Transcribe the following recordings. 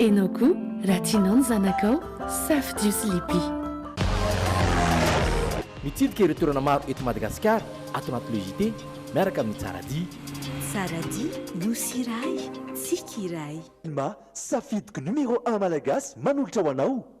Enao koa raha tianao ny zanakao, safidio sy liby. Mitsidika ireo toerana maro eto Madagasikara ato anaty Le JT miaraka amin'i Tsaradia. Tsaradia, Nosy iray, Tsiky iray. Telma, safidiko numéro un malagasy manolotra ho anao.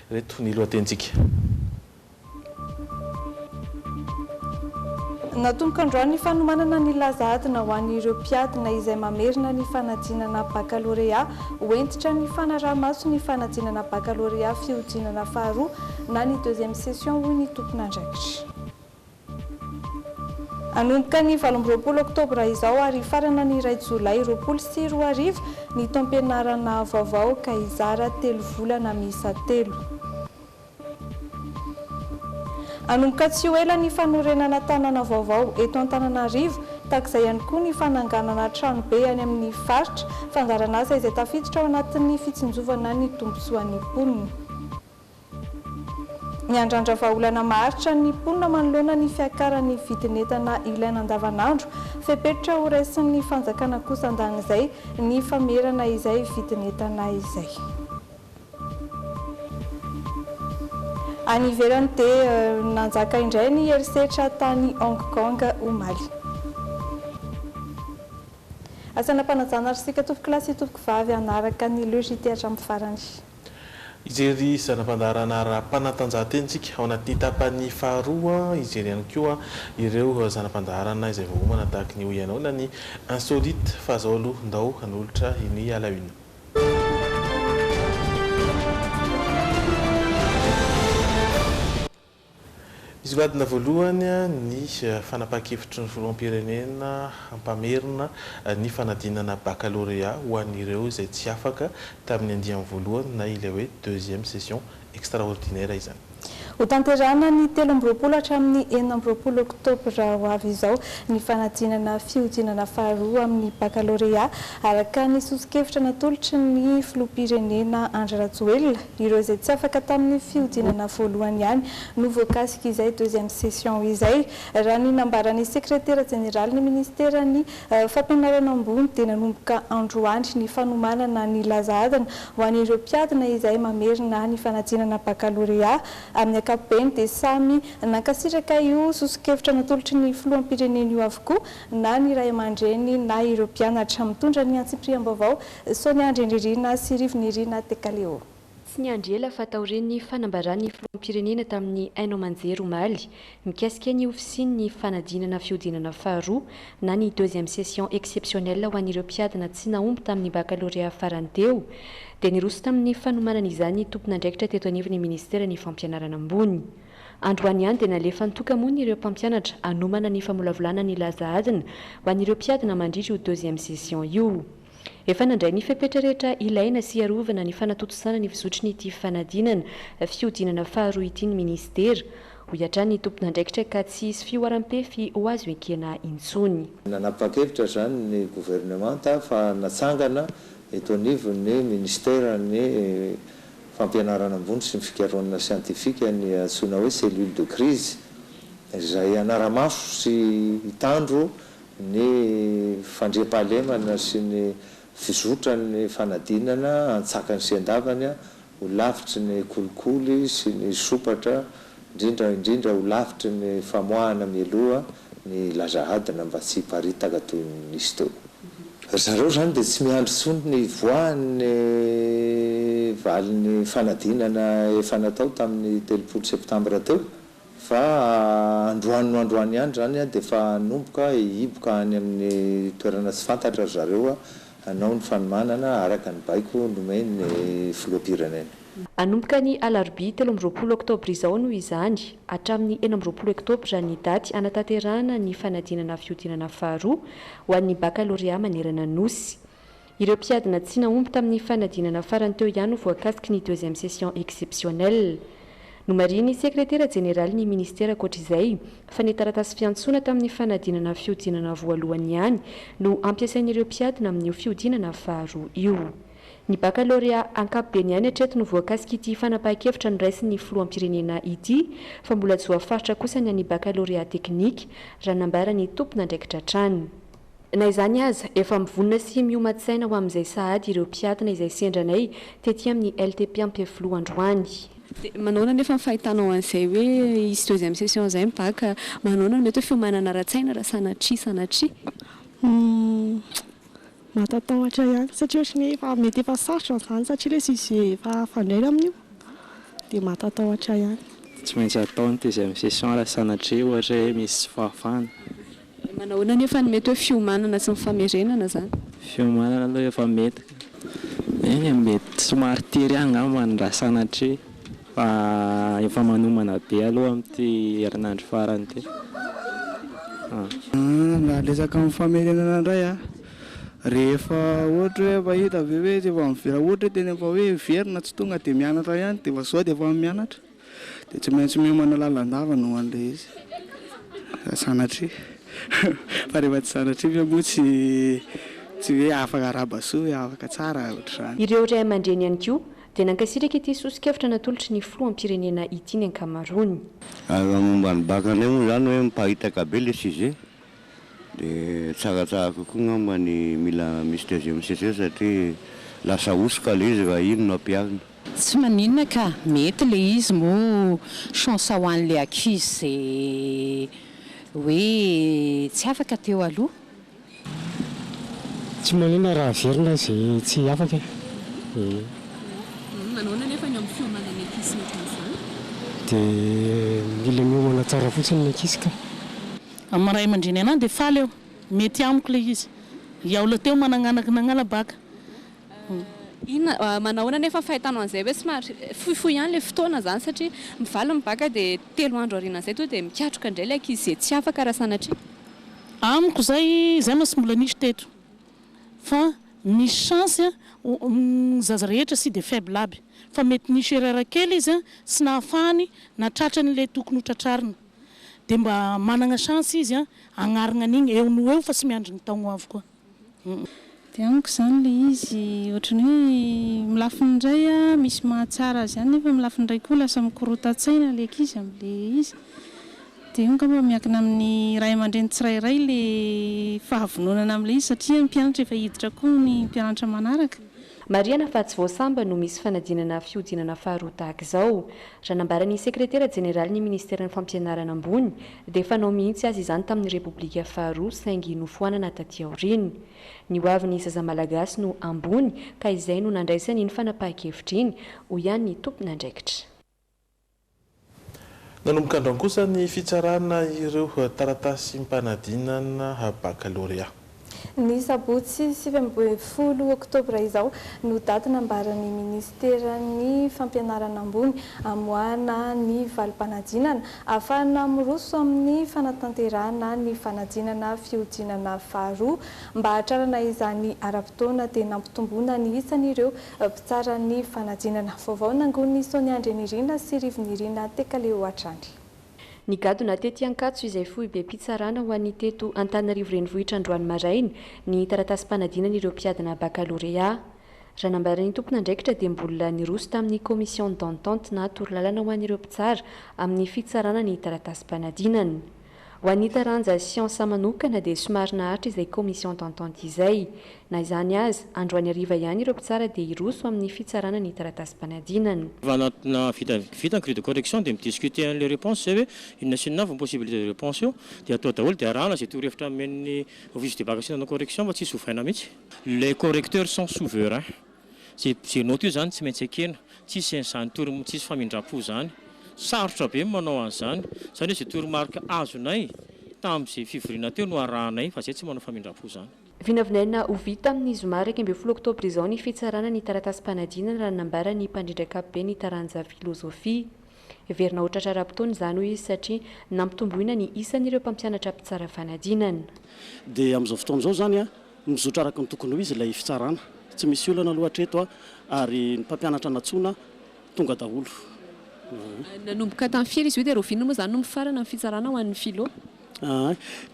Ireto ny lohatenintsika. Natomboka androany ny fanomanana ny laza adina ho an'ireo mpiadina izay mamerina ny fanadinana bakalorea. Ho hentitra ny fanaraha-maso ny fanadinana bakalorea fihodinana faharoa na ny deuxième session, hoy ny tompon'andraikitra. Hanomboka ny valo amby roapolo oktobra izao ary hifarana ny iray jolay roapolo sy roa arivo ny taom-pianarana vaovao ka hizara telo volana miisa telo. Hanomboka tsy ho ela ny fanorenana tanàna vaovao eto Antananarivo, tahak'izay ihany koa ny fananganana tranobe any amin'ny faritra, fandaharan'asa izay tafiditra ao anatin'ny fitsinjovana ny tombontsoan'ny mponina. Miandrandra vahaolana maharitra ny mponina manoloana ny fiakaran'ny vidin'entana ilaina andavanandro. Fepetra ho raisin'ny fanjakana kosa andan'izay ny famerana izay vidin'entana izay. Any ivelany dia nanjaka indray ny herisetra tany Hong Kong omaly. Asan'ampanajana ry sika tompokolahy sy tompokovavy hanaraka ny le JT hatramin'ny farany. Hijery zana-pandaharana ara-panatanjahantena isika ao anatin'ny tapany faharoa, hijery ihany koa ireo zana-pandaharana izay voaomana tahaka ny hoy ianao na ny insolite fa izao aloha ndao hanolotra ny à la une. Nisongadina voalohany ny fanapahan-kevitry ny Filoham-pirenena hampamerina ny fanadinana bakalorea ho an'ireo izay tsy afaka tamin'ny andiany voalohany na ilay hoe deuxième session extraordinaire izany. Hotanterahina ny telo amby roapolo hatramin'ny enina amby roapolo oktobra ho avy izao ny fanadinana fihodinana faharoa amin'ny bakalorea, araka ny soso-kevitra natolotry ny Filoham-pirenena Andry Rajoelina. Ireo izay tsy afaka tamin'ny fihodinana voalohany ihany no voakasik'izay deuxième session izay. Raha ny nambaran'ny sekretera jeneralin'ny ministeran'ny Fampianarana ambony dia nanomboka androany ny fanomanana ny laza adina ho an'ireo mpiadina izay mamerina ny fanadinana bakalorea. Amin'ny ankapobeny dia samy nankasitraka io soso-kevitra natolotry ny filoham-pirenena io avokoa na ny ray aman-dreny na ireo mpianatra. Mitondra ny antsipiriam-baovao Sao ny andry Andririna sy Rivo Nirina Tekaleo. Tsy niandry ela fa taorian'ny fanambaran'ny filoham-pirenena tamin'ny haino aman-jery omaly mikasika ny ofisian'ny fanadinana fihodinana faharoa na ny deuxième session exceptionnelle ho an'ireo mpiadina tsy nahomby tamin'ny bakalorea farany teo dia niroso tamin'ny fanomanana izany ny tompon'andraikitra teto anivon'ny ministeran'ny fampianarana ambony. Androany ihany dia nalefan'ny toka-mony ireo mpampianatra hanomana ny famolavolana nilaza adina ho an'ireo mpiadina mandritry io deuxième session io. Efa nandray ny fepetra rehetra ilaina sy hiarovana ny fanatontosana ny fizotry ny ity fanadinana fihodinana faharoa ity ny minisitera, hoy hatrany ny tomponandraikitra ka tsy hisy fihoaram-pefy ho azo ekena intsony. Nanapa-kevitra izany ny governemanta fa natsangana eto anivon'ny minisiteran'ny Fampianarana ambony sy ny fikarohanana siantifika ny antsoina hoe cellule de crise izay hanara-maso sy hitandro ny fandriampahalemana sy ny fizotran'ny fanadinana an-tsakany sy an-davany ho lavitry ny kolikoly sy ny sompatra, indrindra indrindra ho lavitry ny famoahana mialoha ny laza adina mba tsy hiparitaka toy ny nisy teo. Ry zareo izany dia tsy miandry intsony ny hivoahan'ny valin'ny fanadinana efa natao tamin'ny telopolo septambra teo, Fa androany no androany ihany izany dia efa hanomboka hihiboka any amin'ny toerana tsy fantatra ry zareo hanao ny fanomanana araka ny baiko nomen'ny filoham-pirenena. Hanomboka ny alarobia telo amby roapolo oktobra izao noho izany, hatramin'ny enina amby roapolo oktobra ny daty hanatanterahana ny fanadinana fihodinana faharoa ho an'ny bakalorea manerana Nosy. Ireo mpiadina tsy nahomby tamin'ny fanadinana farany teo ihany ho voakasiky ny deuxième session exceptionnelle. Nomarihin'ny Sekretera Jeneralin'ny Ministera ankoatra izay, fa ny taratasy fiantsoana tamin'ny fanadinana fihodinana voalohany ihany no ampiasain'ireo mpiadina amin'io fihodinana faharoa io. Ny bakalorea ankapobeny ihany hatreto no voakasik'ity fanapahan-kevitra noraisin'ny Filoham-pirenena ity, fa mbola joafaritra kosa ny an'ny bakalorea teknika, raha nambaran'ny tompon'andraikitra hatrany. Na izany aza, efa mivonona sy mioman-tsaina ho amin'izay sahady ireo mpiadina izay sendra anay tety amin'ny LTP Ampefiloha androany. Dia manaona anefa ny fahitanao an'izay hoe hisy deuxième session izay ny bac? Manaona no mety hoe fiomanana ara-tsaina raha sanatria sanatria? Humm, mahatatahotra ihany satria ohatry ny hoe efa mety efa sarotra izany satria ilay sujet efa hafandraina amin'io dia mahatatahotra ihany. Tsy maintsy atao ny deuxième session raha sanatria ohatra hoe misy tsy fahafahana. Manahoana anefa ny mety hoe fiomanana sy ny famerenana izany? Fiomanana aloha efa mety ka. Eny e, mety somary tery ihany angamba ny raha sanatria fa efa manomana be aloha amin'ity herinandro farany ity. Raha resaka amin'ny famerenana indray an, rehefa ohatra hoe efa hita ve hoe efa mivela ohatra hoe tena efa hoe very na tsy tonga dia mianatra ihany dia efa izao dia efa mianatra. Dia tsy maintsy miomana lalandava no andeha izy raha sanatria fa rehefa tsy sanatria ve moa tsy tsy hoe afaka araba soa hoe afaka tsara ohatr'izany. Ireo ray aman-dreny ihany koa dia nankasitraka ity soso-kevitra natolotry ny filoham-pirenena ity ny ankamaroany. Ary raha momba ny bacc indray moa izany hoe miparitaka be ilay sujet Dia tsaratsara kokoa angamba ny mila misy deuxième session satria lasa hosoka ilay izy raha iny no ampiharina. Tsy maninona ka, mety ilay izy moa chance ho an'ilay accuse izay hoe tsy afaka teo aloha. Tsy maninona raha averina izay tsy afaka e. Manahoana anefa ny amin'ny fiomanan'ny accuse mety amin'izany? Dia mila miomana tsara fotsiny ny accuse ka. Amin'ny ray aman-dreny anah dia faly aho, mety amiko ilay izy. Hiaula teo managnanako nagnala bac. Inona, manahoana anefa ny fahitanao an'izay hoe somary fohifohy ihany ilay fotoana izany satria mivaly ny bac dia telo andro aorianan'izay tonga dia mikatroka indray ilay ankizy izay tsy afaka raha sanatria. Amiko izay, izay mantsy mbola nisy teto fa misy chance ny zaza rehetra tsy dia faible aby fa mety nisy erreur kely izy tsy nahafahany nahatratra an'ilay tokony ho tratrarina. dia mba managna chance izy an hagnarigna an'igny eo noho eo fa tsy miandry ny taogno avy koa. Dia amiko izany ilay izy ohatran'ny hoe amin'ny lafiny indray misy mahatsara azy ihany nefa amin'ny lafiny iray koa lasa mikorotan-tsaina ilay ankizy amin'ilay izy. Dia io angamba miankina amin'ny ray aman-dreny tsirairay ilay fahavononana amin'ilay izy satria ny mpianatra efa hiditra koa ny mpianatra manaraka. Marihana fa tsy vao sambany no misy fanadinana fihodinana faharoa tahaka izao. Raha nambaran'ny sekretera jeneralin'ny ministeran'ny Fampianarana ambony dia fanao mihitsy aza izany tamin'ny Repoblika faharoa saingy nofoanana taty aoriana. Ny ho avin'ny zaza malagasy no ambony ka izay no nandraisany iny fanapahan-kevitra iny, hoy ihany ny tompon'andraikitra. Nanomboka androany kosa ny fitsarana ireo taratasim-panadinana bakalorea. Ny sabotsy sivy ambin'ny folo oktobra izao no daty nambaran'ny minisiteran'ny Fampianarana ambony hamoahana ny valim-panadinana ahafahana miroso amin'ny fanatanterahana ny fanadinana fihodinana faharoa. Mba hahatrarana izany ara-potoana dia nampitomboina ny isan'ireo Mpitsara ny fanadinana vaovao nangonin'i Sonia Andrianirina sy Rivinirina Tekaleho hatrany. Nigadona tety Ankatso izay foibem-pitsarana ho an'ny teto Antananarivo renivohitra androany maraina ny taratasim-panadinan'ireo mpiadina bakalorea. Raha nambaran'ny tompon'andraikitra dia mbola niroso tamin'ny commission d'entente na torolalana ho an'ireo mpitsara amin'ny fitsarana ny taratasim-panadinana. Ho an'ny taranja siansa manokana dia somary naharitra izay commission d'entente izay. Na izany aza, androany hariva ihany ireo mpitsara dia hiroso amin'ny fitsarana ny taratasim-panadinana. Fa anatinà vita vita ny grille de correction dia mi-discuter an'ilay réponse izay hoe inona sy inona avy ny possibilité de réponse eo dia atao daholo dia arahana izay torohevitra nomen'ny office de bac sy nanao correction fa tsisy ovaina mihitsy. Ilay correcteur sans souverain. Ze ze note io zany tsy maintsy ekena, tsisy izany toro tsisy famindrampo zany. Sarotra be ny manao an'izany, zany hoe ze toromarika azonay tamin'ze fivoriana teo no arahanay fa zay tsy manao famindrampo zany. Vinavinaina ho vita amin'ny zoma iraika ambin'ny folo oktobra izao ny fitsarana ny taratasim-panadinana raha ny nambaran'ny mpandrindra ankapoben'ny taranja filozofia. Heverina ho tratra ara-potoana izany hoy izy satria nampitomboina ny isan'ireo mpampianatra mpitsara fanadinana. Dia amin'izao fotoana izao izany mizotra araka ny tokony ho izy ilay fitsarana. Tsy misy olana aloha hatreto ary ny mpampianatra nantsoina tonga daholo. Nanomboka tamin'ny firy izy io dia rahoviana moa izany no mifarana ny fitsarana ho an'ny Filou?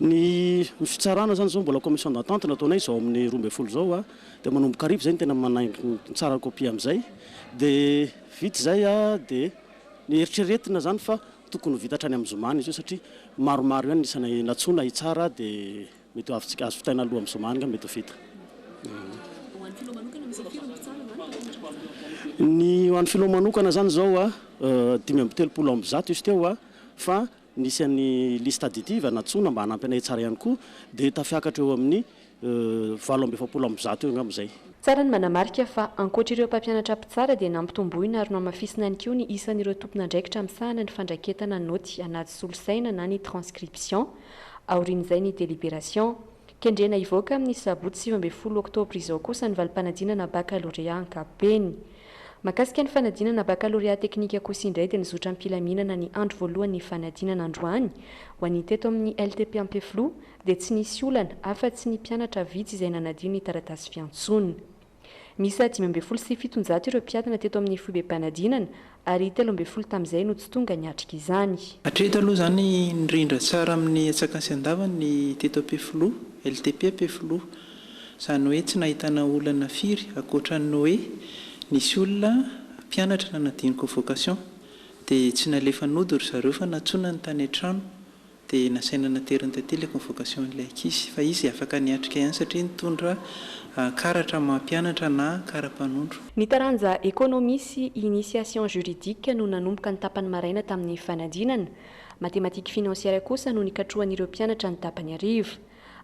Ny fitsarana izany izao mbola commission d'entente no ataonay izao amin'ny roa ambin'ny folo izao dia manomboka hariva izay no tena manaingo ny tsara kopia amin'izay dia. Vita izay dia neritreretina izany fa tokony ho vita hatrany amin'ny zoma ny izy io satria maromaro ihany ny isa nantsoina hitsara dia mety ho avy azo vitaina alohan'ny zoma angamba mety ho vita. Ny ho an'ny Filao manokana izany izao dimy amby telopolo amby zato izy teo fa Nisy an'i List Additive nantsoina mba hanampy anay hitsara ihany koa, dia tafiakatra eo amin'ny valo amby efapolo amby zato eo angamba izay. Tsara ny manamarika fa ankoatra ireo mpampianatra mpitsara dia nampitomboina ary nohamafisina ihany koa ny isan'ireo tompon'andraikitra misahana ny fandraketana naoty anaty solosaina na ny transcription aorian'izay ny deliberation. Kendrena hivoaka amin'ny sabotsy sivy ambin'ny folo oktobra izao kosa ny valim-panadinana bakalorea ankapobeny. Mahakasika ny fanadinana bakalorea teknika kosa indray dia nizotra am-pilaminana ny andro voalohan'ny fanadinana androany ho an'ny teto amin'ny LTP Ampefiloha dia tsy nisy olana afa-tsy ny mpianatra vitsy izay nanadio ny taratasy fiantsoana. Miisa dimy ambin'ny folo sy fitonjato ireo mpiadina teto amin'ny foibem-panadinana ary telo ambin'ny folo tamin'izay no tsy tonga niatrika izany. Hatreto aloha izany nirindra tsara amin'ny atsak'Asiandava ny teto Ampefiloha, LTP Ampefiloha. Izany hoe tsy nahitana olana firy ankoatra ny hoe nisy olona mpianatra nanadino convocation dia tsy nalefa nody ry zareo fa nantsoina ny tany an-trano dia nasaina nateriny taty ilay convocation an'ilay ankizy fa izy afaka niatrika ihany satria nitondra karatra maha mpianatra na kara-panondro. Ny taranja Economie sy Initiation Juridique no nanomboka ny tapany maraina tamin'ny fanadinana. Mathématiques financières kosa no nikatrohan'ireo mpianatra ny tapany hariva.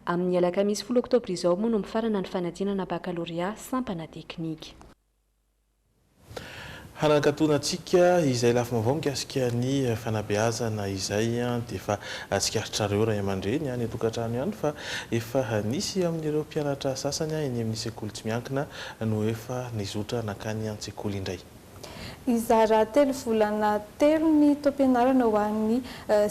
Amin'ny alakamisy folo oktobra izao moa no mifarana ny fanadinana bakalorea sampana teknika. Hanankatona antsika izay lafim-baovao mikasika ny fanabeazana izay dia efa tsikaritrareo ray aman-dreny any an-tokantrano ihany fa efa nisy amin'ireo mpianatra sasany eny amin'ny sekoly tsy miankina no efa nizotra nankany an-tsekoly indray. Hizara telo volana telo ny taom-pianarana ho an'ny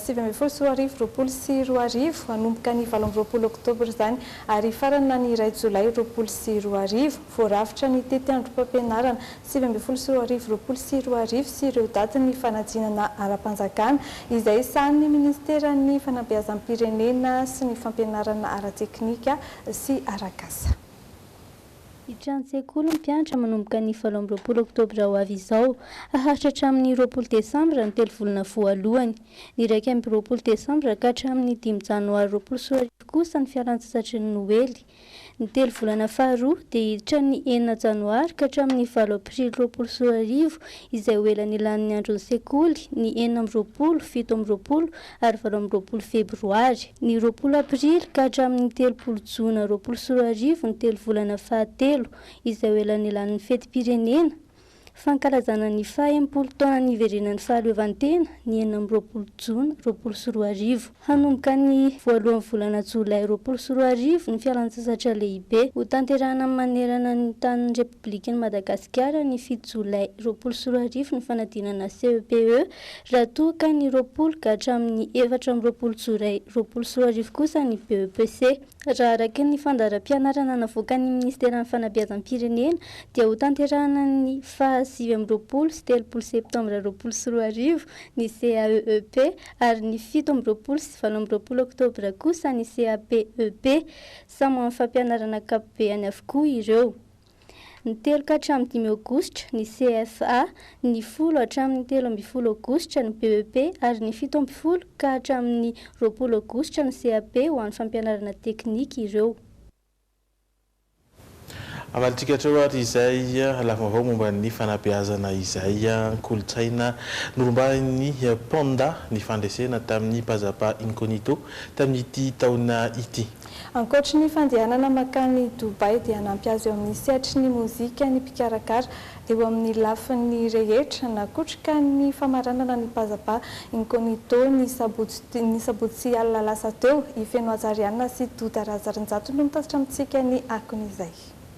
sivy ambin'ny folo sy roa arivo, roapolo sy roa arivo, hanomboka ny valo amby roapolo oktobra izany ary hifarana ny iray jolay roapolo sy roa arivo. Voarafitra ny tetiandrom-pampianarana sivy ambin'ny folo sy roa arivo, roapolo sy roa arivo sy ireo datin'ny fanadinana ara-panjakana izay sahanin'ny Ministeran'ny Fanabeazam-pirenena sy ny Fampianarana ara-teknika sy arak'asa. Hitrany sekoly ny mpianatra manomboka ny valo amby roapolo oktobra ho avy izao. Haharitra hatramin'ny roapolo desambra ny telo volana voalohany. Ny iraika amby roapolo desambra ka hatramin'ny dimy janoary roapolo sy roa arivo kosa ny fialantsasatry ny noely. Ny telo volana faharoa dia hiditra ny enina janoary ka hatramin'ny valo aprily roapolo sy roa arivo izay ho ela nilan'ny andron'ny sekoly, ny enina amby roapolo, fito amby roapolo ary valo amby roapolo febroary, ny roapolo aprily ka hatramin'ny telopolo jona roapolo sy roa arivo ny telo volana fahatelo izay ho elanelan'ny fetim-pirenena fankalazana ny faha enimpolo taona niverenan'ny fahaleovantena ny enina amby roapolo jona roapolo sy roa arivo. Hanomboka ny voalohan'ny volana jolay roapolo sy roa arivo ny fialantsasatra lehibe hotanterahina manerana ny tanin'ny Repoblikan'i Madagasikara ny fito jolay roapolo sy roa arivo ny fanadinana CEPE Raha toa ka ny roapolo ka hatramin'ny efatra amby roapolo jolay roapolo sy roa arivo kosa ny BEPC, raha araka ny fandaharam-pianarana navoakan'ny Ministeran'ny Fanabeazam-pirenena, dia hotanterahana ny faha sivy amby roapolo sy telopolo septambra roapolo sy roa arivo ny CAEEP ary ny fito amby roapolo sy valo amby roapolo oktobra kosa ny CAPEP. Samy amin'ny fampianarana ankapobehany avokoa ireo. Ny telo ka hatramin'ny dimy Aogositra, ny CFA, ny folo hatramin'ny telo ambin'ny folo Aogositra, ny BEP, ary ny fito ambin'ny folo ka hatramin'ny roapolo Aogositra, ny CAP, ho an'ny fampianarana teknika ireo. Hamalintsika hatreo ary izay lafim-baovao momba ny fanabeazana izay kolontsaina norombahin'ny Panda ny fandresena tamin'ny Pazapa Incognito tamin'ity taona ity. Ankoatry ny fandehanana mankany Dubaï dia hanampy azy eo amin'ny sehatry ny mozika ny mpikarakara eo amin'ny lafiny rehetra. Nakotroka ny famaranana ny Pazapa Incognito ny sabotsy ny sabotsy alina lasa teo. I Feno Hajariana sy Doda Razarinjato no nitatitra amintsika ny akon'izay.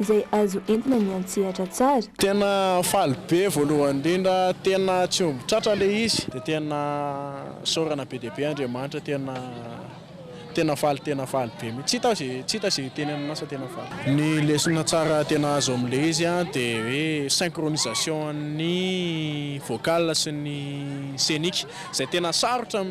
izay azo entina miantsehatra tsara. Tena faly be voalohany indrindra tena tsy omby tratra ilay izy dia tena isaorana be dia be Andriamanitra tena tena faly tena faly be mihitsy tsy hita izay hiteny aminao fa tena faly. Ny lesona tsara tena azo amin'ilay izy dia hoe synchronisation an'ny vocal sy ny scenique izay tena sarotra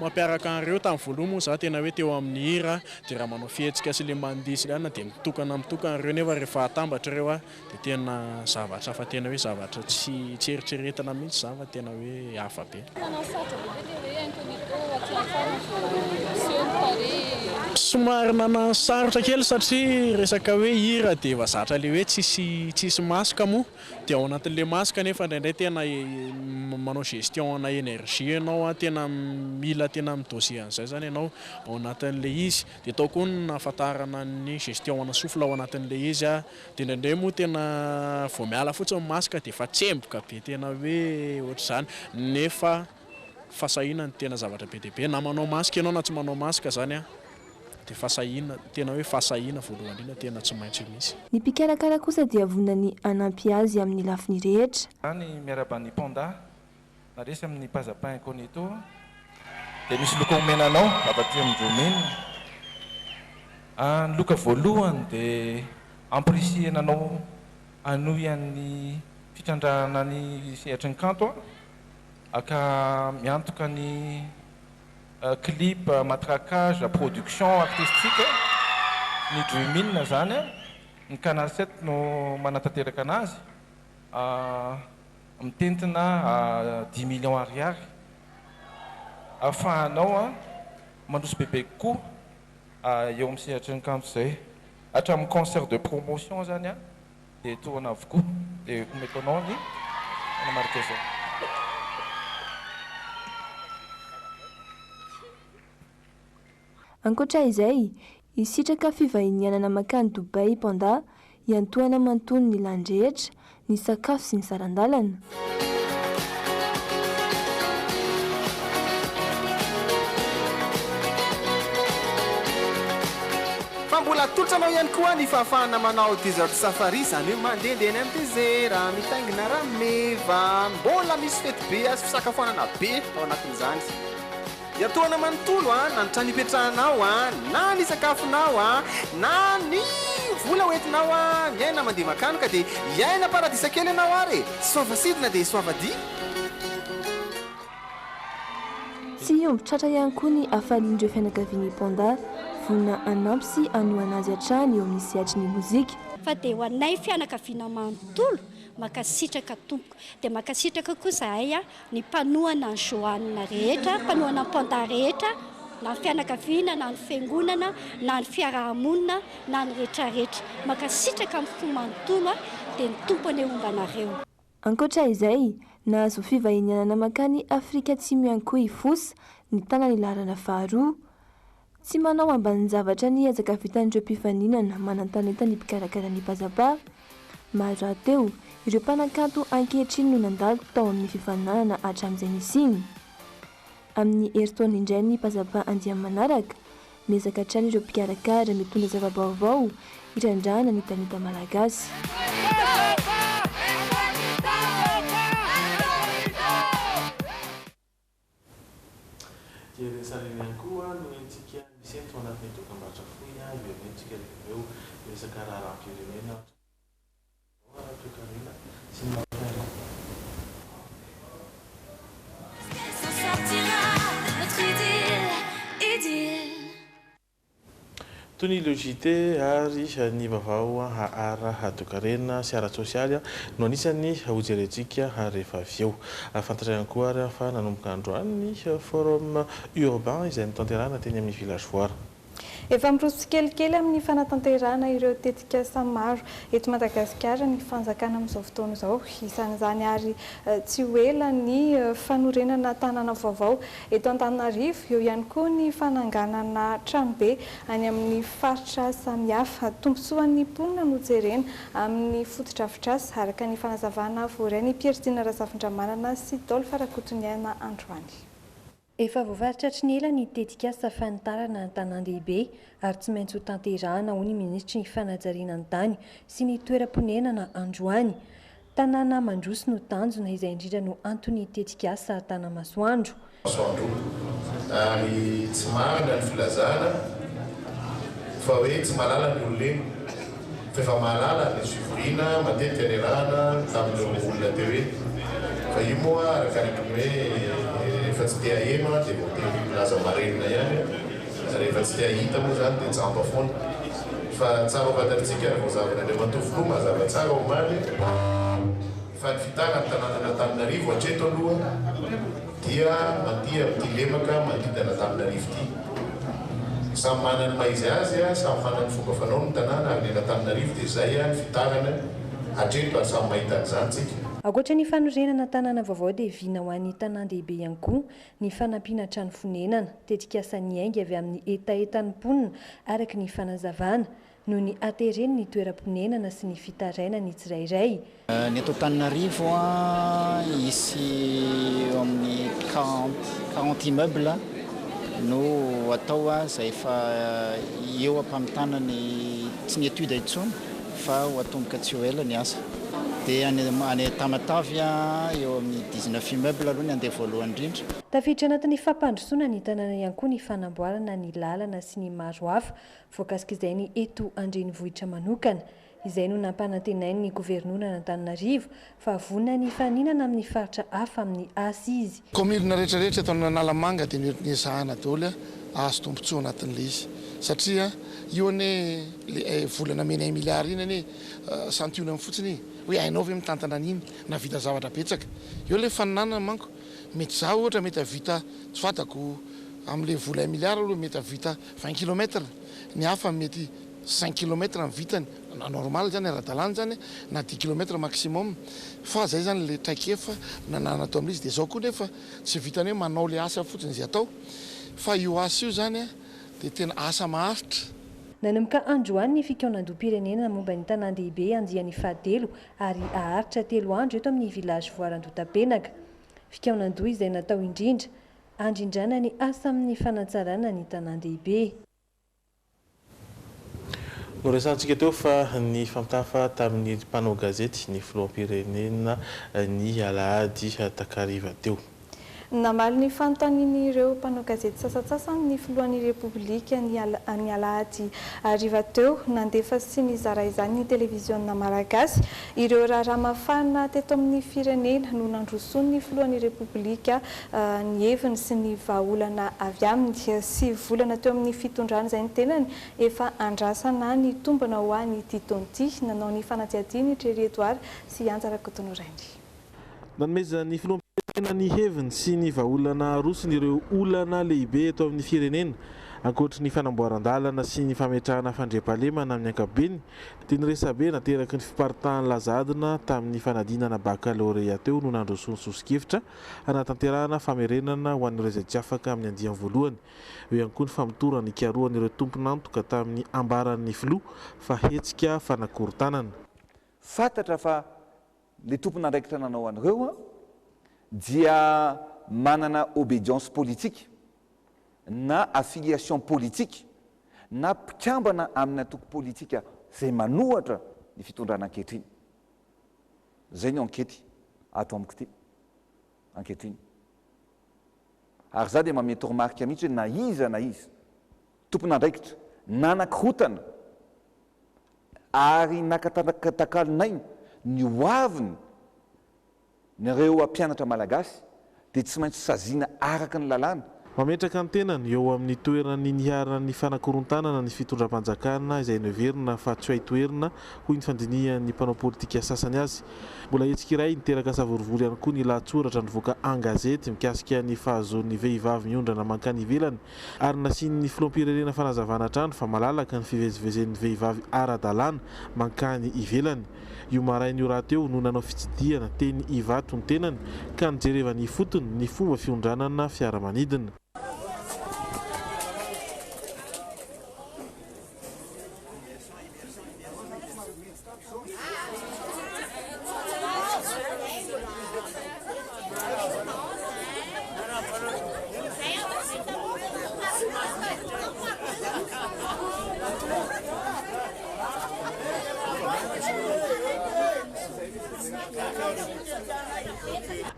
mampiaraka an'ireo tamin'ny voaloha moa izaho tena hoe teo amin'ny hira Dia raha manao fihetsika sy ilay mandihy sy ilay anona dia mitokana mitokana ireo nefa rehefa atambatra ireo a dia tena zavatra hafa tena hoe zavatra tsy tsy eritreretina mihitsy izany fa tena hoe hafa be. Somary nanano sarotra kely satria resaka hoe hira dia efa zatra ilay hoe tsisy tsisy masque moa Dia ao anatin'ilay masque nefa indraindray tena manao gestion ana énergie ianao, tena mila tena mi-doser an'izay izany ianao ao anatin'ilay izy. Dia tao koa ny nahafantarana ny gestion ana souffle ao anatin'ilay izy. Dia indraindray moa tena vao miala fotsiny ny masque dia efa tsemboka be tena hoe ohatr'izany nefa Fasahiana no tena zavatra be dia be. Na manao masque ianao na tsy manao masque izany dia fasahiana, tena hoe fasahiana voalohany indrindra tena tsy maintsy misy. Ny mpikarakara kosa dia vonona ny hanampy azy amin'ny lafiny rehetra. Izany miarahaba an'i Panda na resy amin'ny Paza Pain Conito dia misy loka omena anao avy aty amin'ny Djomin a. Ny loka voalohany dia ampirisihina anao hanohy amin'ny fitrandrahana ny sehatry ny kanto Aka miantoka ny clip matraquage production artistique ny Drumina zany ny canal sept no manatanteraka anazy mitentina dix millions ariary afahanao mandroso bebe kokoa eo am sehatry ny kanto zay hatramin'ny concert de promotion zany an. Dia tohana avokoa. Dia ho metonao ny manamarika izao. Ankoatra izay, hisitraka fivahinianana mankany Dubai Panda hiantohana manontolo ny lany rehetra, ny sakafo sy ny saran-dalana. Fa mbola atolotra anao ihany koa ny fahafahana manao desert safari, izany hoe mandehandeha any amin'ny desera, mitaingina rameva. Mbola misy fetibe sy fisakafoanana be ao anatin'izany. Dia tohana manontolo a, na ny trano ipetrahanao a, na ny sakafonao a, na ny vola hoentinao a, miaina mandeha makany ka dia hiaina paradisa kely ianao ary e! Soava sidina dia soava dia. Tsy hiombon tratra ihany koa ny hafalian'ireo fianakavian'i Panda, vonona hanampy sy hanohana azy hatrany eo amin'ny sehatry ny mozika. Fa dia ho anay fianakaviana manontolo, mankasitraka tompoko. Dia mankasitraka koa zahay a, ny mpanohana an'i Joanne rehetra, mpanohana an'i Panda rehetra, na ny fianakaviana, na ny fiangonana, na ny fiaraha-monina, na ny rehetrarehetra. Mankasitraka amin'ny fo manontolo, dia ny Tompo anie homba anareo. Ankoatra izay, nahazo fivahinianana mankany Afrika Atsimo ihany koa i Fosa, nitana ny laharana faharoa. Tsy manao ambanin-javatra ny ezaka vitan'ireo mpifaninana manan-talenta ny mpikarakara ny Pazapa. Maro rahateo ireo mpanakanto ankehitriny no nandalo tao amin'ny fifaninanana hatramin'izay nisiany. Amin'ny herintaona indray ny Pazapa andiany manaraka, miezaka hatrany ireo mpikarakara mitondra zava-baovao hitrandrahana ny talenta malagasy. Jerusalem ihany koa no entintsika misy eto anatin'ny dokambarotra fohy iverenentsika dia ireo resaka raharaham-pirenena ary tontolo ara-baovao, ara-toekarena sy ny maha mpihaino azy. Toy ny Logite ary ny Vaovao ara-toekarena sy ara-tsosialy no anisan'ny hojerentsika rehefa avy eo. Fantatra ihany koa ary fa nanomboka androany ny Forum Urbain izay notanterahina teny amin'ny Village Foire. Efa miroso tsikelikely amin'ny fanatanterahana ireo tetikasa maro eto Madagasikara ny fanjakana amin'izao fotoana izao. Isan'izany ary tsy ho ela ny fanorenana tanàna vaovao Eto Antananarivo, eo ihany koa ny fananganana tranobe any amin'ny faritra samihafa. Tombontsoan'ny mponina no jerena amin'ny fotodrafitrasa, araka ny fanazavana voaray ny Piertina Razafindramanana sy Dolph Rakotoniaina androany. Efa voafaritra hatry ny ela ny tetikasa fanitarana an-tanàn-dehibe ary tsy maintsy ho tanterahana, hoy ny minisitry ny fanajariana ny tany sy ny toeram-ponenana androany. Tanàna mandroso no tanjona, izay indrindra no anton'ny tetikasa Tanamasoandro. Masoandro, ary tsy marina ny filazana fa hoe tsy mahalala ny olona iny, fa efa mahalala ny fivoriana matetika niarahana tamin'ireo olona teo iny, fa io moa araka ny mpiomehy rehefa tsy te haheno an dia voatery milaza marenina ihany, rehefa tsy te hahita moa izany dia jamba foana. Fa tsara ho fantatritsika ary voazavin'Andriamatoa Filoha mazava tsara omaly fa ny fitàna ny tanànan'Antananarivo hatreto aloha dia mandihy amin'ity lemaka mangidy an'Antananarivo ity. Samy manana ny maha-izy azy, samy manana ny fomba fanaony ny tanàna ary ny an'Antananarivo dia izay ny fitànany hatreto ary samy mahita an'izany tsika. Ankoatra ny fanorenana tanàna vaovao dia vina ho an'ny tanàn-dehibe ihany koa ny fanampiana trano fonenana, tetikasa niainga avy amin'ny hetahetan'ny mponina araka ny fanazavana, noho ny hatereny ny toeram-ponenana sy ny fitarainany tsirairay. Ny eto Antananarivo, hisy eo amin'ny quarante immeubles no atao izay efa eo am-pamitana ny tsy ny études intsony. fa ho atomboka tsy ho ela ny asa dia any any Tamatave eo amin'ny dix neuf immeuble aloha ny andeha voalohany indrindra. Tafiditra anatin'ny fampandrosoana ny tanàna ihany koa ny fanamboarana ny lalana sy ny maro hafa voakasik'izainy eto an-drenivohitra manokana. Izay no nampanantenain'ny governoran'Antananarivo fa vonona ny hifaninana amin'ny faritra hafa amin'ny asa izy. Kaominina rehetra rehetra eto Analamanga dia mety ny ezahana daholo ahazo tombotsoa anatin'ilay izy satria io anie ilay vola namenay milliard iny anie santionany fotsiny iny hoe hainao ve mitantana an'iny nahavita zavatra betsaka eo ilay faninanana manko mety za ohatra mety hahavita tsy fantako amin'ilay vola un milliard aloha mety hahavita vingt kilomètre ny hafa mety cinq kilomètre ny vitany na normal zany ara-dalàna zany na dix kilomètre maximum fa zay zany le traikefa nananana teo amin'izy de zao koa nefa tsy vitany hoe manao le asa fotsiny zay atao fa io asa io zany a de tena asa maharitra. Nanomboka androany ny fikaonandoham-pirenena momba ny tanàn-dehibe andiany fahatelo ary haharitra telo andro eto amin'ny Village Voara Andohatapenaka. Fikaonandoha izay natao indrindra, handrindrana ny asa amin'ny fanatsarana ny tanàn-dehibe. Noresahantsika teo fa nifankahafa tamin'ny mpanao gazety ny filoham-pirenena ny alahady takariva teo. Namaly ny fanontanian'ireo mpanao gazety sasantsasany ny filohan'ny Repoblika ny alahady hariva teo. Nandefa sy nizara izany ny televiziona malagasy. Ireo raharaha mafana teto amin'ny firenena no nandrosoan'ny filohan'ny Repoblika ny heviny sy ny vahaolana avy aminy. Sivy volana teo amin'ny fitondrany izay ny tenany efa andrasana nitombina ho an'ity taona ity. Nanao ny fanadihadiany i Tréry Edouard sy i Anja Rakotonorainy. Nanomezan'ny filoham-pirenena ny heviny sy ny vahaolana arosony ireo olana lehibe eto amin'ny firenena. Ankoatry ny fanamboaran-dalana sy ny fametrahana fandriampahalemana amin'ny ankapobeny dia ny resabe nateraky ny fiparitahan'ny laza adina tamin'ny fanadinana bakalorea teo no nandrosony soso-kevitra hanatanterahana famerenana ho an'ireo izay tsy afaka amin'ny andiany voalohany. Eo ihany koa ny famotorana ikarohan'ireo tompon'antoka tamin'ny ambaran'ny filoha fa hetsika fanakorontanana. Fantatra fa le tompon'andraikitra nanao an'ireo dia manana obedience politique na affiliation politique na mpikambana amin'ny antoko politika izay manohatra ny fitondrana ankehitriny. Zay ny ankety ato amiko ty ankehitriny. Ary za dia manome toromarika mihitsy hoe na iza na iza tompon'andraikitra nanakorontana ary nakatakalo nainy ny hoaviny Nareo hampianatra malagasy dia tsy maintsy saziana araka ny lalàna. Mametraka ny tenany eo amin'ny toeran'ny niharan'ny fanakorontanana ny fitondram-panjakana izay noheverina fa tsy hay toherina hoy ny fandinihan'ny mpanao politika sasany azy. Mbola hetsika iray niteraka savorovoro ihany koa ny lahatsoratra nivoaka an-gazety mikasika ny fahazoan'ny vehivavy miondrana mankany ivelany ary nasian'ny filoham-pirenena fanazavana hatrany fa malalaka ny fivezivezen'ny vehivavy ara-dalàna mankany ivelany. Io maraina io rahateo no nanao fitsidihana teny Ivato ny tenany ka nijerevany ifotony ny fomba fiondranana fiaramanidina.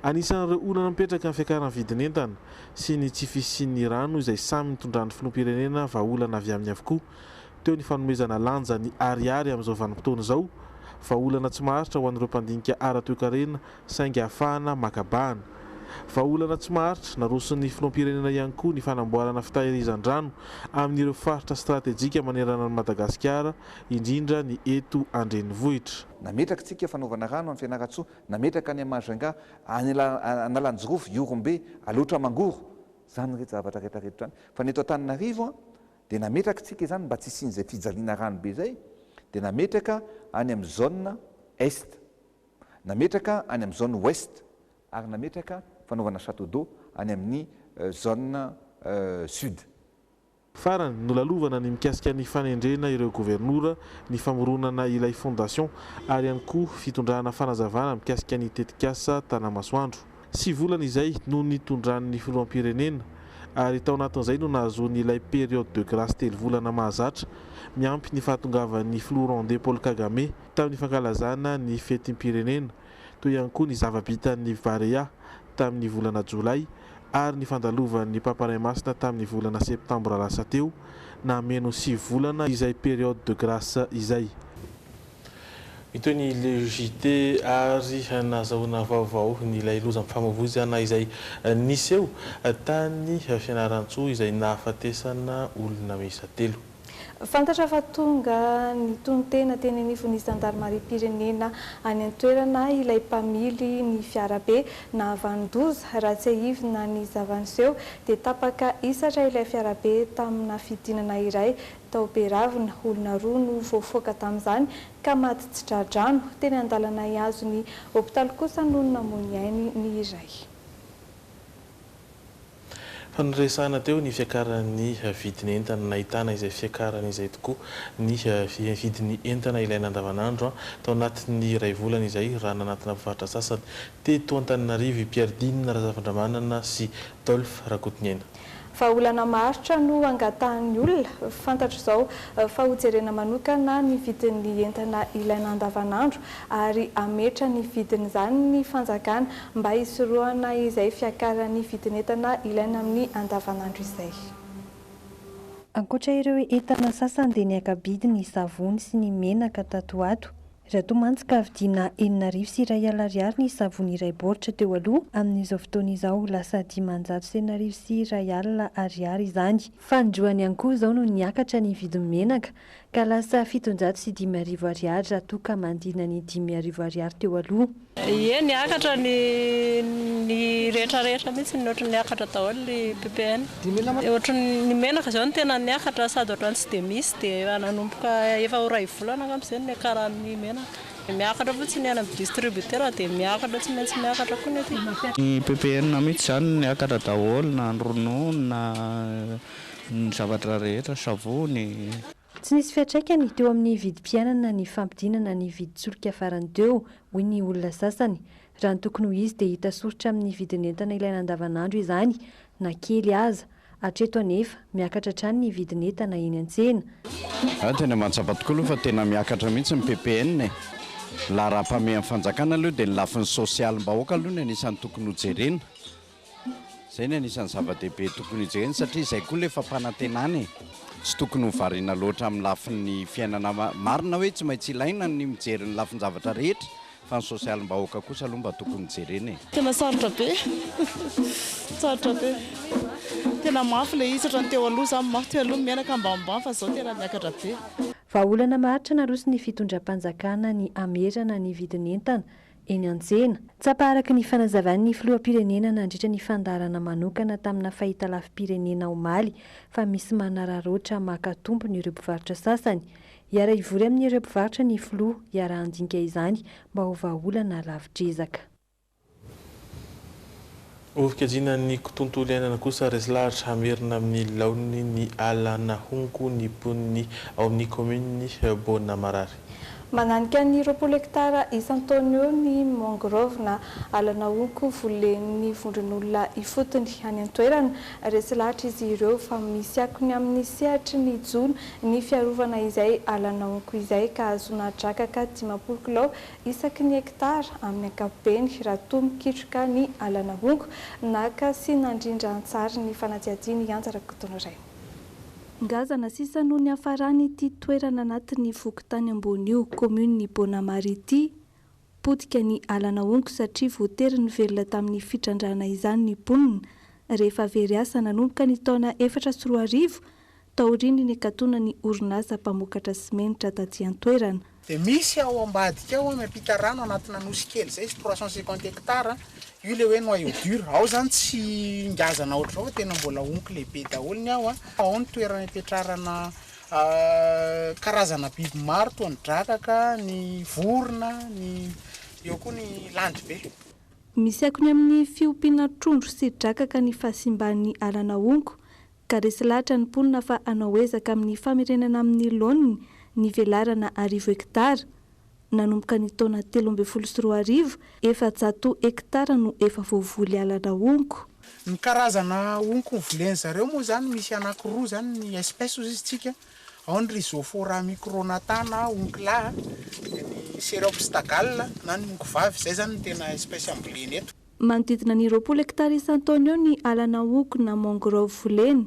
Anisan'ireo olana mipetraka ny fiakaran'ny vidin'entana sy ny tsy fisian'ny rano izay samy nitondran'ny filoham-pirenena vahaolana avy aminy avokoa teo ny fanomezana lanja ny Ariary amin'izao vanim-potoana izao, vahaolana tsy maharitra ho an'ireo mpandinika ara-toekarena saingy ahafahana maka bahana. Vahaolana tsy maharitra naroson'ny filoham-pirenena ihany koa ny fanamboarana fitahirizan-drano amin'ireo faritra stratejika manerana an'i Madagasikara, indrindra ny eto an-drenivohitra. Nametraka isika fanaovana rano any Fianarantsoa, nametraka any Majunga, any Analanjirofo, Ihorombe, Alaotra Mangoro, izany rehetra zavatra rehetra rehetra izany. Fa ny eto Antananarivo dia nametraka isika izany mba tsy hisian'izay fijaliana rano be izay dia nametraka any amin'ny zone Est. Nametraka any amin'ny zone ouest ary nametraka fanaovana chateau d'eau any amin'ny zone sud. Farany, nolalovana ny mikasika ny fanendrena ireo governora, ny famoronana ilay fondation ary ihany koa fitondrana fanazavana mikasika ny tetikasa Tanamasoandro. Sivy volana izay no nitondran'ny filoham-pirenena ary tao anatin'izay no nahazoany ilay période de grace telo volana mahazatra miampy ny fahatongavan'ny filoha rwandais Paul Kagame. tamin'ny fankalazana ny fetim-pirenena, toy ihany koa ny zava-bitan'ny Barea tamin'ny volana Jolay ary ny fandalovan'ny Papa Ray Masina tamin'ny volana Septambra lasa teo, nameno sivy volana izay période de grâce izay. Mitohy ny Le JT ary nazahoana vaovao an'ilay lozam-pifamoivoizana izay niseho tany Fianarantsoa izay nahafatesana olona miisa telo. Fantatra fa tonga nitonon-tena teny anivon'ny zandarimariam-pirenena any an-toerana ilay mpamily ny fiarabe nahavanon-doza. Raha tsiahivina ny zava-niseho dia tapaka hisatra ilay fiarabe tamina fidinana iray tao Beravina. Olona roa no voafaoka tamin'izany ka maty tsy tra-drano. Teny an-dalana hihazo ny hopitaly kosa no namoy ny ainy ny iray. Fa noresahana teo ny fiakaran'ny vidin'entana. Nahitana izay fiakarana izay tokoa ny vidin'ny entana ilaina andavanandro tao anatin'ny iray volana izay raha nanantona mpivarotra sasany teto Antananarivo i Pierre Dina Razafindramanana sy Dolf Rakotonena. Vahaolana maharitra no angatahan'ny olona. Fantatra izao fa hojerena manokana ny vidin'ny entana ilaina andavanandro ary hametra ny vidin'izany ny fanjakana mba hisorohana izay fiakaran'ny vidin'entana ilaina amin'ny andavanandro izay. Ankoatra ireo entana sasany dia niaka-bidy ny savony sy ny menaka tato ho ato. Raha toa mantsy ka vidiana enina arivo sy iray alina ariary ny savony iray baoritra teo aloha, amin'izao fotoana izao lasa dimanjato sy enina arivo sy iray alina ariary izany. Fanindroany ihany koa izao no niakatra ny vidin'ny menaka, Ka lasa fitonjato sy dimy arivo ariary raha toa ka mandina ny dimy arivo ariary teo aloha. Ie niakatra ny ny rehetra rehetra mihitsy ny ohatry ny niakatra daholo ny ppn. Ohatry ny menaka izao no tena niakatra sady ohatrany tsy dia misy dia nanomboka efa ho iray volana angamba izay no niakaran'ny menaka. Dia miakatra fotsiny any amin'ny distributeur dia miakatra tsy maintsy miakatra koa ny aty. Ny ppn mihitsy izany niakatra daholo na ny ronono na. Ny zavatra rehetra, savony. Tsy nisy fiantraikany teo amin'ny vidim-piainana ny fampidinana ny vidin-tsolika farany teo, hoy ny olona sasany. Raha ny tokony ho izy dia hita soritra amin'ny vidin'entana ilaina andavanandro izany na kely aza. Hatreto anefa, miakatra hatrany ny vidin'entana eny an-tsena. Izaho tena mahatsapa tokoa aloha fa tena miakatra mihitsy ny PPN e. Ny laharampahamehan'ny fanjakana aloha dia ny lafiny sosialim-bahoaka aloha no anisan'ny tokony hojerena. Izay no anisan'ny zava-dehibe tokony hojerena satria izay koa ilay fampanantenana e! Tsy tokony ho variana loatra amin'ny lafin'ny fiainana. Marina hoe tsy maintsy ilaina ny mijery ny lafin-javatra rehetra fa ny sosialim-bahoaka kosa aloha mba tokony jerena e! Tena sarotra be, sarotra be. Tena mafy ilay izy, tsy ohatran'ny teo aloha izany manko, teo aloha miaina ka ambanimbany fa izao tena miakatra be. Vahaolana maharitra naroson'ny fitondram-panjakana ny hamerana ny vidin'entana eny an-tsena. Tsapa araka ny fanazavan'ny filoham-pirenena nandritra ny fandaharana manokana tamina fahitalavi-pirenena omaly fa misy manararaotra maka tombony ireo mpivarotra sasany. Hiara-hivory amin'ireo mpivarotra ny filoha hiara-handinika izany mba ho vahaolana lavitr'ezaka. Ho fikajiana ny ktontolo iainana kosa, resy lahatra hamerina amin'ny laoniny ny ala nahonko ny mponiny ao amin'ny kaomininy Boana Marary. Mananika ny roapolo hektara isan-taona eo ny mangrove na ala nahonko volen'ny vondron'olona ifotony any an-toerana. Resy lahatra izy ireo fa misy akony amin'ny sehatry ny jono ny fiarovana izay ala nahonko izay ka ahazoana drakaka dimampolo kilao Isaky ny hekitara amin'ny ankapobeny, raha toa mikitroka ny alana honko, naka sy nandrindra an-tsary ny fanadihadiany i Anja Rakotonirainy. Ngazana sisa no niafarany ity toerana anatin'ny fokontany ambony io, kaominin'i Bonamary ity, potika ny alana honko satria voatery nivelona tamin'ny fitrandrahana izany ny mponina rehefa very asa nanomboka ny taona efatra sy roa arivo taorian'ny nikatonan'ny orinasa mpamokatra simenitra taty an-toerana. Dia misy ao ambadika ao miampita rano anatina nosy kely izay izy, trois cent cinquante hectares, io ilay hoe noyau dur, ao izany tsy ngazana ohatr'izao fa tena mbola onky lehibe daholo ny ao, ao ny toerana ipetrarana karazana biby maro toa ny drakaka, ny vorona, ny eo koa ny landribe. Misy akony amin'ny fiompiana trondro sy drakaka ny fahasimban'ny ala nahongo Ka resy lahatra ny mponina fa hanao ezaka amin'ny famerenana amin'ny laoniny ny velarana arivo hektara. Nanomboka ny taona telo ambin'ny folo sy roa arivo, efajato hektara no efa voavoly alana honko. Ny karazana honko ho volen-dry zareo moa izany misy anankiroa izany ny espèces hozy izy tsika, ao ny Rhizophora micronata na honko lahy, dia ny Cereopsida gall na ny honko vavy, izay izany no tena espèces ambolena eto. Manodidina ny roapolo hektara isan-taona eo ny ala nahogo na mangrove volena.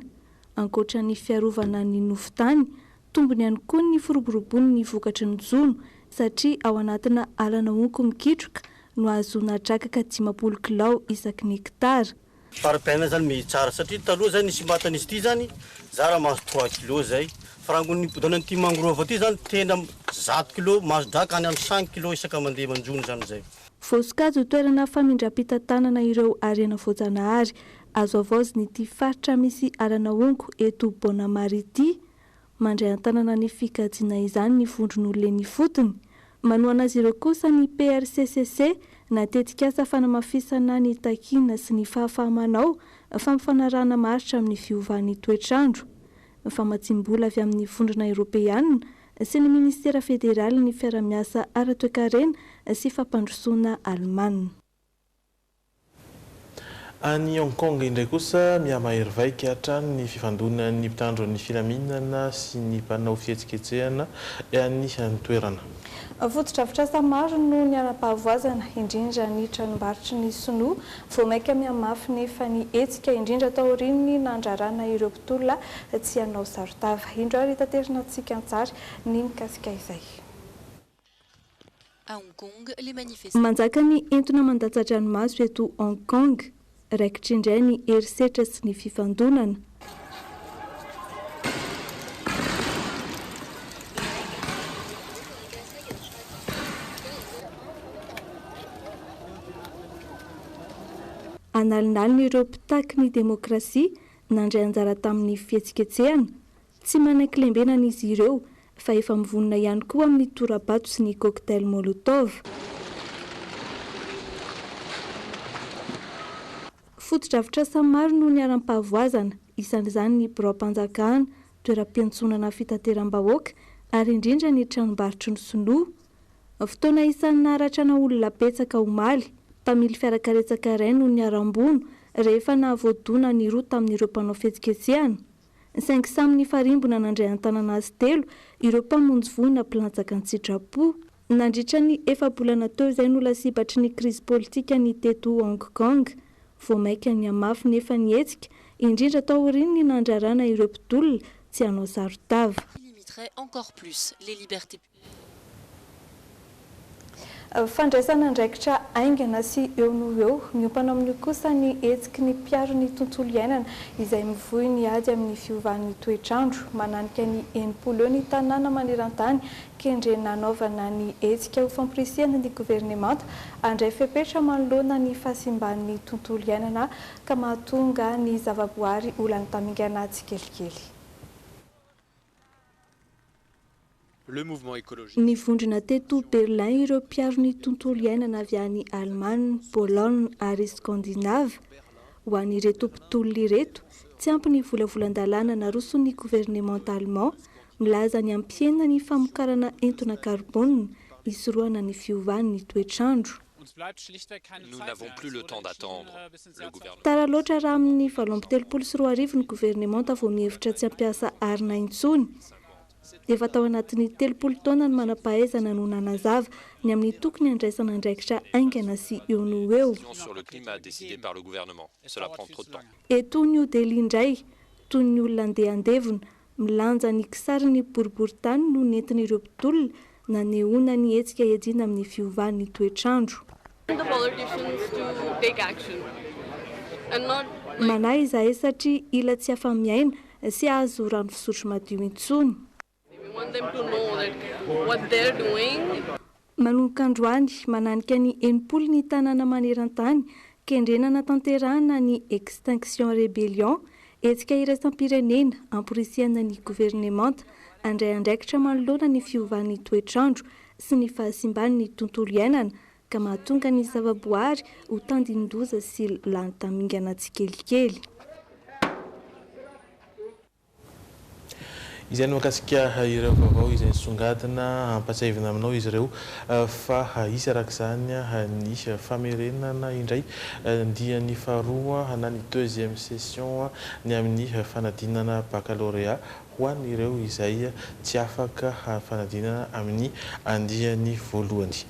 Ankoatra ny fiarovana ny nofon-tany, tombony ihany koa ny firoborobon' ny vokatry ny jono satria ao anatina ala nahogo mikitroka no ahazoana drakaka dimampolo kilao isaky ny hektara. Fari-piainana izany mehy tsara satria taloha izay ny simbatan' izy ity zany zara mahazo trois kilos izay fa raha ny nibodoana an' ity mangrove ity izany tena zato kilos mahazo draka any amin' ny cinq kilos isaka mandeha manjono izany izay. Voasokajy ho toerana famindram-pitantanana ireo harena voajanahary azo havaozin'ity faritra misy alana honko eto Bonamar ity. Mandray an-tanana ny fikajiana izany ny vondron'olona eny ifotony. Manohana azy ireo kosa ny PRCCC na tetikasa fanamafisana ny takiana sy ny fahafaha-manao fampifanarahana maharitra amin'ny fiovan'ny toetr'andro. Famatsiam-bola avy amin'ny Vondrona Eoropeana sy ny Minisitera Federalin'ny Fiarahamiasa Ara-Toekarena sy Fampandrosoana Alemana. Any Hong Kong indray kosa, mihamahery vaika hatrany ny fifandonan'ny mpitandro ny filaminana sy ny mpanao fihetsiketsehana any an-toerana. Fotodrafitrasa maro no niharam-pahavoazana, indrindra ny tranombarotry ny sinoa Vao mainka mihamafy nefa ny hetsika, indrindra taorian'ny nandrarana ireo mpitolona tsy hanao saron-tava. Indro ary taterina antsika an-tsary ny mikasika izay. Manjaka ny entona mandatsa-dranomaso eto Hong Kong, raikitra indray ny herisetra sy ny fifandonana. Analinaliny ireo mpitaky ny demokrasia nandray anjara tamin'ny fihetsiketsehana. Tsy manan-kilembenana izy ireo fa efa mivonona ihany koa amin'ny tora-bato sy ny cocktail molotov. Fotodrafitrasa maro no niharam-pahavoazana, isan'izany ny biraom-panjakana, toeram-piantsonana fitateram-bahoaka ary indrindra ny tranombarotry ny sinoa. Fotoana isan'ny naharatrana olona betsaka omaly, mpamily fiarakaretsaka iray no niharam-bono rehefa nahavoadona ny roa tamin'ireo mpanao fihetsiketsehana. saingy samy nifarimbona nandray an-tanana azy telo ireo mpamonjy voina mpilatsaka an-tsitrapo. Nandritra ny efa-bolana teo izay no lasibatry ny krizy politika ny teto Hong Kong. Vao mainka nihamafy nefa ny hetsika, indrindra taorian'ny nandrarana ireo mpitolona tsy hanao saron-tava. Fandraisana andraikitra haingana sy eo no ho eo. Miompana amin'io kosa ny hetsiky ny mpiaro ny tontolo iainana izay mivoy ny ady amin'ny fiovan'ny toetr'andro. Mananika ny enimpolo eo ny tanàna maneran-tany kendrena hanaovana ny hetsika ho famporisihana ny governemanta handray fepetra manoloana ny fahasimban'ny tontolo iainana ka mahatonga ny zavaboary ho lany tamingana tsikelikely. Nivondrona teto Berlin ireo mpiaro ny tontolo iainana avy any Alemana, Pologne ary Scandinave. Ho an'ireto mpitolona ireto, tsy ampy ny volavolan-dalàna naroson'ny governemanta Allemand milaza ny hampihena ny famokarana entona karbôna hisorohana ny fiovan'ny toetr'andro. Tara loatra raha amin'ny valo amby telopolo sy roa arivo ny governemanta vao mihevitra tsy hampiasa arina intsony. Efa tao anatin'ny telopolo taona ny manam-pahaizana no nanazava ny amin'ny tokony handraisana andraikitra haingana sy eo no ho eo. Eto New Delhi indray, toy ny olona andeha handevona, Milanja ny kisarin'ny boriborintany no nentin'ireo mpitolona nanehoana ny hetsika iadiana amin'ny fiovan'ny toetr'andro. Manahy izahay satria ila tsy afa-miaina sy hahazo rano fisotro madio intsony. Manomboka androany, mananika ny enimpolo ny tanàna maneran-tany, kendrena hanatanterahana ny Extinction Rebellion, hetsika iraisam-pirenena amporisihana ny governemanta handray andraikitra manoloana ny fiovan'ny toetr'andro sy ny fahasimban'ny tontolo iainana ka mahatonga ny zavaboary ho tandindoza sy lany tamingana tsikelikely. Izay ny mahakasika ireo vaovao izay nisongadina. Ampatsiahivina aminao izy ireo fa hisy araka izany ny famerenana indray ny diany faharoa na ny deuxième session ny amin'ny fanadinana baccalauréat ho an'ireo izay tsy afaka fanadinana amin'ny andiany voalohany.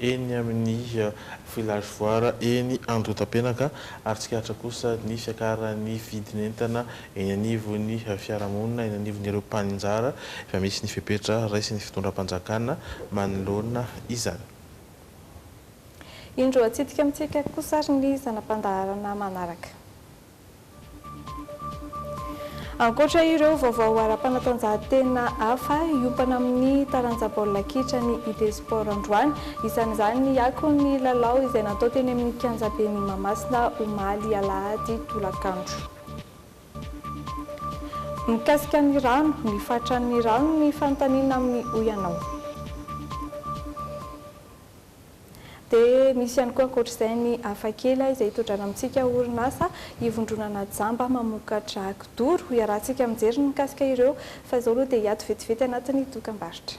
eny amin'ny villagefoire eny Andohatapenaka ary tsikaritra kosa ny fiakaran'ny vidin'entana eny anivon'ny fiarahamonina, eny anivon'ireo mpaninjara efa misy ny fepetra raisin'ny fitondram-panjakana manoloana izany. Indro atsidika amintsika kosa ary ny zana-pandaharana manaraka. Ankoatra ireo vaovao ara-panatanjahantena hafa, hiompana amin'ny taranja baolina kitra ny Idée Sport androany. Isan'izany ny akon'ny lalao izay natao teny amin'ny kianjaben'i Mahamasina omaly alahady tolakandro. Mikasika ny rano, ny faritran'ny rano ny fanontaniana amin'ny Hoy Ianao. Dia misy ihany koa ankoatra izay ny Hafakely izay itodràna amintsika orinasa ivondronana jamba mamokatra kidoro. Iarahantsika mijery ny mikasika ireo fa izao aloha dia hiato vetivety anatin'ny dokambarotra.